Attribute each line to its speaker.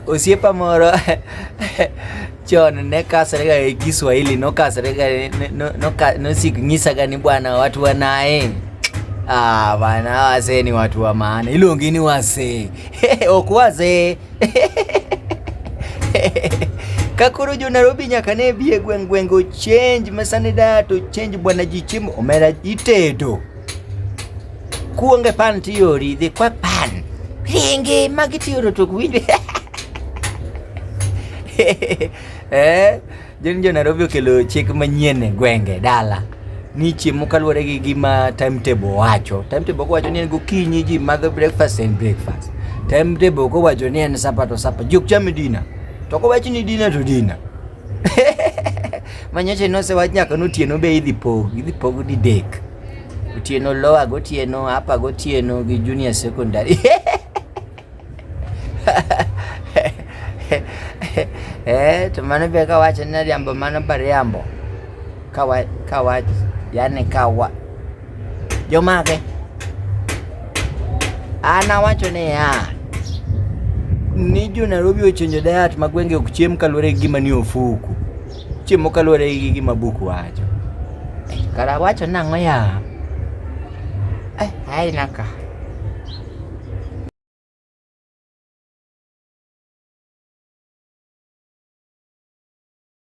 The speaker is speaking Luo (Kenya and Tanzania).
Speaker 1: Osiepa moro chon ne kasrega e Kiswahili no kasrega no, no, no sik nyisaga ni bwana watu wanaye ah, bwana wazee ni watu wa maana, ilongi ni wazee ok wazee kakoro jo Nairobi nyaka ne bi e gweng' gweng' o change mesane da to change bwana ji chiemo omera itedo kuonge pan tiyori dhi kwa pan ringi ma gitiyoro to winjo eh jeni jo Nairobi okelo chik manyien e gwenge dala ni chiemo kaluwore gi gima timetable wacho timetable kowacho ni en gokinyi ji madho breakfast and breakfast timetable kowacho ni en sapa to sapa jok chame dina to kowacho ni dina to dina Manyocha nosewach nyaka notieno be idhi pog, idhi pog didek. Otieno lower gotieno, upper gotieno gi junior secondary. Eh, to mano be kawacho ni riambo mano bariambo. Kawa, kawa, yani kawa, Jomage? An awacho ni ya ni jo Nairobi ochenjo diet ma gwenge ok chiem kaluwore gi gima ni ofuku. Chiemo kaluwore gi gima buku wacho. Eh, kara wacho nang'o ya? Eh, hai naka.